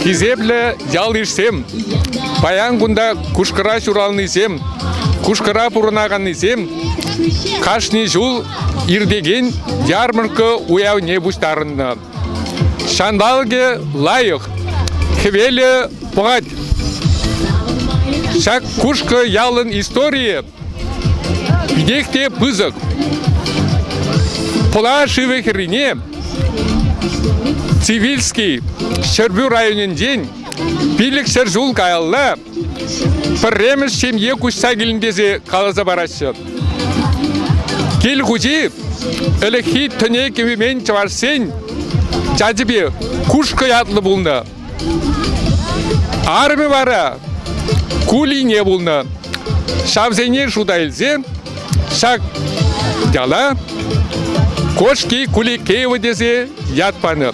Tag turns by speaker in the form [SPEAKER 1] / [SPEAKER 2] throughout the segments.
[SPEAKER 1] Хисеплӗ ял-йышсем, паян кунта Кушкӑра ҫуралнисем, Кушкӑра пурӑнаканнисем кашни ҫул иртекен ярмарка уявне пуҫтарӑннӑ. Ҫанталӑкӗ лайӑх, хӗвелӗ пӑхать. Ҫак Кушкӑ ялӑн историйӗ питех те пысӑк. Пӑла шывӗ хӗррине Цивильский Ҫӗрпӳ районӗнчен пилӗк ҫӗр ҫул каялла Пӗрремӗш ҫемье куҫса килнӗ тесе каласа параҫҫӗ. Кил хуҫи ӗлӗкхи тӗне кӗвемен чӑвашсен чачӗпе Кушкӑ ятлӑ пулнӑ. Арӑмӗ вара кулине пулнӑ. Ҫавсене шута илсе ҫак яла Кошки Куликеево тесе ят панӑ.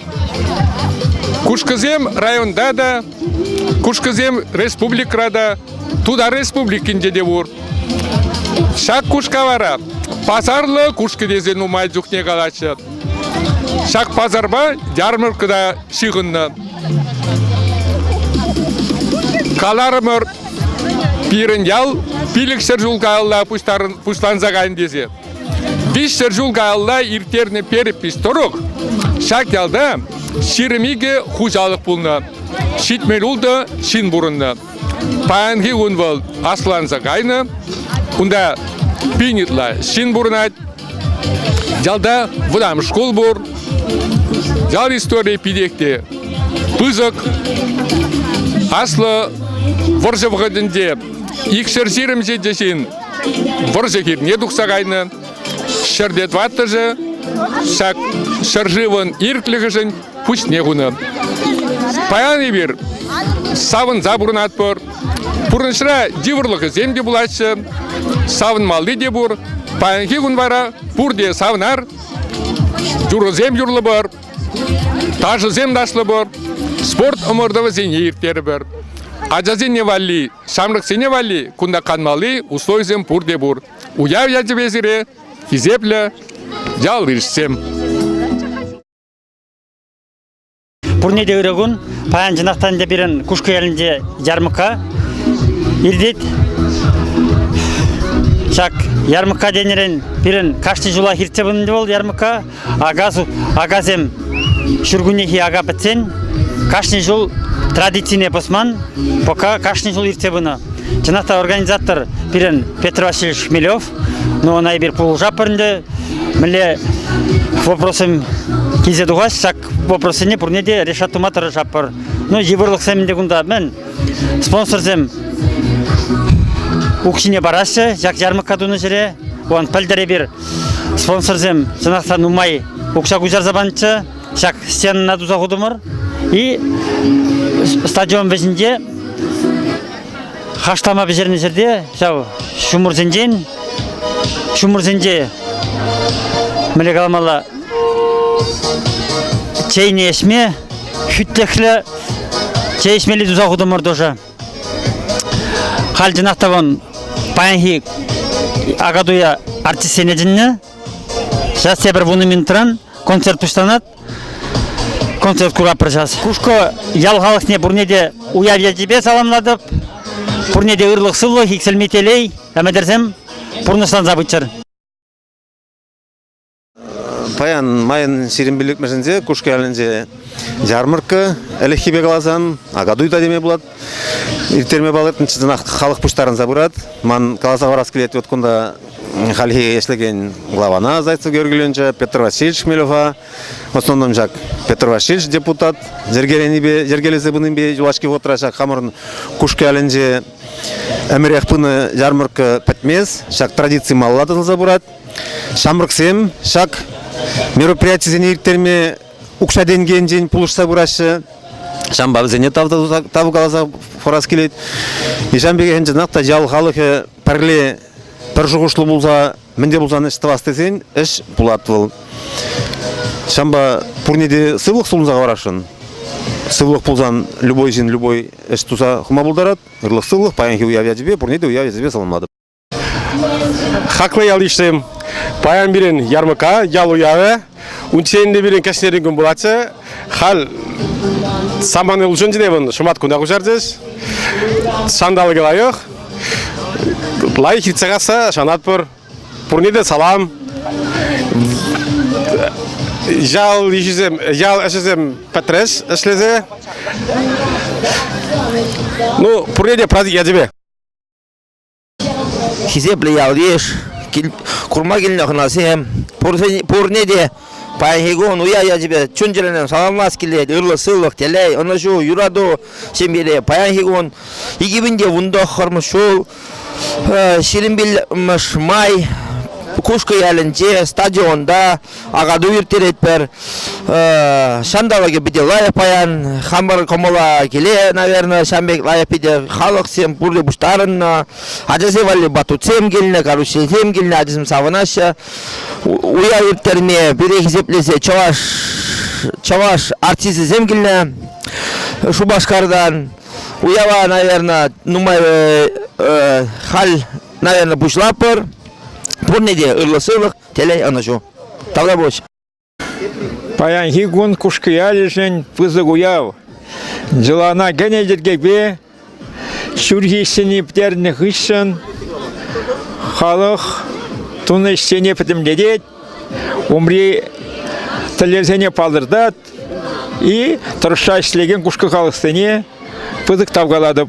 [SPEAKER 1] Кушкӑсем районта та Кушкӑсем республикӑра та, Тутар Республикинче те пур. Ҫак кушка вара пасарлӑ кушкӑ тесе нумай чухне калаҫҫӗ. Ҫак пасарпа ярмарка та ҫыхӑннӑ. Каларӑмӑр, пирӗн ял пилӗкҫӗр ҫул каялла пуҫтарӑн, пуҫланса кайнӑ тесе. Виҫсӗр ҫул каялла ирттернӗ перепись тӑрӑх ҫак ялта ҫирӗм икӗ хуҫалӑх пулнӑ. Ҫитмӗл ултӑ ҫын пурӑннӑ. Паянхи кун вӑл асланса кайнӑ. Кунта пин ытла ҫын пурӑнать. Ялта вӑтам шкул пур. Ял историйӗ питех те пысӑк. Аслӑ вӑрҫӑ вӑхӑтӗнче икҫӗр ҫирӗмҫетӗ ҫын вӑрҫӑ хирне тухса кайнӑ. Ҫӗрте тӑваттӑшӗ ҫак ҫӗршывӑн ирӗклӗхӗшӗн пуҫне хунӑ. Паян эпир савӑнса пурӑнатпӑр. Пурнӑҫра йывӑрлӑхӗсем те пулаҫҫӗ, савӑнмалли те пур. Паянхи кун вара пурте савнар, юрӑсем юрлӑпӑр. Ташӑсем ташлӑпӑр, спорт ӑмӑртӑвӗсене ирттерӗпӗр. Ачасене валли, ҫамрӑксене валли кунта канмалли условисем пурте пур. Уяв ячӗпе сире хисеплӗ ял ырӑшсем.
[SPEAKER 2] Пурне те ырӑ кун. Паян чӑнах та ӗнтӗ пирӗн Кушкӑ ялӗнче ярмӑка иртет. Ҫак ярмӑка тенӗрен пирӗн кашни ҫулах иртсе пынӑ вӑл ярмӑка. Акас, акасем ҫуркуннехи ака пӗтсен кашни ҫул традицине пӑсман, пока кашни ҫул иртсе пынӑ. Чӑнах та организатор пирӗн Петр Васильевич Хмелев, ну ӑна эпир пулӑшатпӑр ӗнтӗ. Мӗнле вопросем килсе тухаҫ, ҫак вопроссене пурне те решат тума тӑрӑшатпӑр. Ну, йывӑрлӑхсем ӗнтӗ кунта, мӗн, спонсорсем укҫине параҫҫӗ, ҫак ярмӑркка тунӑ ҫӗре. Вон пӗлтӗр эпир Спонсорсем, чӑнах та, нумай укҫа куҫарса панччӗ. Ҫак стенана туса хутӑмӑр. И стадион вӗҫӗнче хашлама пӗҫернӗ ҫӗрте ҫав ҫумӑрсенчен ҫумӑрсенче мӗнле каламалла чейне ӗҫме хӳтлӗхлӗ чей ӗҫмелли туса хутӑмӑр тоже. Хальтинах та вон паянхи акатуя артистсене чӗннӗ. Сейчас тепӗр вунӑ минутран концерт пуҫланать. Концерт куратпӑр сейчас. Кушко ял халӑхне пурне те уяв ячӗпе саламлатӑп. Пурне те ырлӑх-сывлӑх, иксӗлми телей, ӗмӗтӗрсем пурнӑҫланса пыччӑр.
[SPEAKER 3] Паян майӑн сирӗн пиллӗкмӗшӗнче Кушкӑялӗнче ярмарка ӗлӗкхипе каласан акатуй та теме пулать. Ирттерме палӑртнӑ чӑнах халӑх пуҫтарӑнса пырать. Ман каласа хӑварас килет, вот кунта хальхи ӗҫлекен главана Зайцев Георгиевича, Петр Васильевич Хмелева, в основном ҫак Петр Васильевич депутат йӗркеленипе йӗркелесе пынипе юлашки вӑхӑтра ҫак хамӑрӑн Кушкӑялӗнче ӗмӗрех пынӑ ярмарка пӗтмест, ҫак традици малла тӑсӑлса пырать. Ҫамрӑксем ҫак мероприятисене ирттерме укҫа-тенкӗ енчен пулӑшса пыраҫҫӗ. Ҫавӑнпа вӗсене тав, тав каласа хурас килет. Ҫавӑн пекех ӗнтӗ та ял халӑхӗ пӗрле пӗр шухӑшлу пулса мӗн те пулсан ӗҫ тӑвас тесен ӗҫ пулать вӑл. Ҫавӑнпа пурне те сывлӑх сунса хӑварасшӑн. Сывлӑх пулсан любой ҫын любой ӗҫ туса хӑма пултарать. Ырлӑх сывлӑх, паянхи уяв ячӗпе, пурне те уяв ячӗпе саламлатӑп.
[SPEAKER 4] Хаклӑ ял-йышсем, паян пирӗн ярмӑка ял уявӗ, унччен те пирӗн кӗҫнерен кун пулатчӗ. Халь самане улшӑнчӗ вӑн шӑмат куна куҫарчӗҫ. Ҫанталӑкӗ лайӑх. Лайӑх иртсе касса шанатпӑр. Пурне те салам. Ял ӗҫӗсем, ял ӗҫӗсем пӗтрӗҫ ӗҫлесе. Ну, пурне те праздник ячӗпе.
[SPEAKER 5] Хисеплӗ ял-йыш, курма килнӗ хӑнасем, пурне те паянхи кун уя ячӗпе чун-чӗререн саламлас килет. Ырлӑх-сывлӑх, телей, ӑнӑҫу, юрату ҫемьере паянхи кун икӗ пин те вунтӑххӑрмӗш ҫул ҫирӗм пиллӗкмӗш май Кушкӑ ялӗнче стадионта акату ирттеретпӗр. Ҫанталӑкӗ питӗ лайӑх паян. Хамӑр кӑмӑла киле, наверное, ҫан пек лайӑх питӗ халӑхсем пурте пуҫтарӑннӑ. Ачасем валли батутсем килнӗ, карусельсем килнӗ, ачасем савӑнаҫҫӗ. Уяв ирттерме, пире хисеплесе чӑваш чӑваш артисӗсем килнӗ Шупашкартан. Уява, наверное, нумай э, э, халь, наверное, пуҫлатпӑр. Пурне те ырлӑ сывлӑх. Телей, ӑнӑҫу. Тавра пуҫ.
[SPEAKER 6] Паянхи кун Кушкиялӗшӗн пысӑк уяв. Йӑлана кӗнӗ йӗркепе ҫурхи ӗҫсене пӗтернӗ хыҫҫӑн халӑх тунӑ ӗҫсене пӗтӗмлетет, умри тӗллевсене палӑртать и тӑрӑшса ӗҫлекен кушкӑ халӑхсене пысӑк тав калатӑп.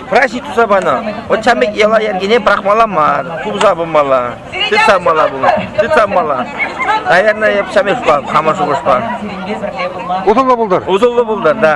[SPEAKER 5] праҫник туса панӑ. Вӑт ҫамрӑк йӑла-йӗркене пӑрахмалла мар, тупса пымалла, тытса пымалла пулӑ, тытса пымалла. Наверное, я ҫамрӑкпа, хамӑр
[SPEAKER 7] шухӑшпа.
[SPEAKER 5] Усӑллӑ пултӑр.
[SPEAKER 7] Усӑллӑ
[SPEAKER 5] пултӑр, да.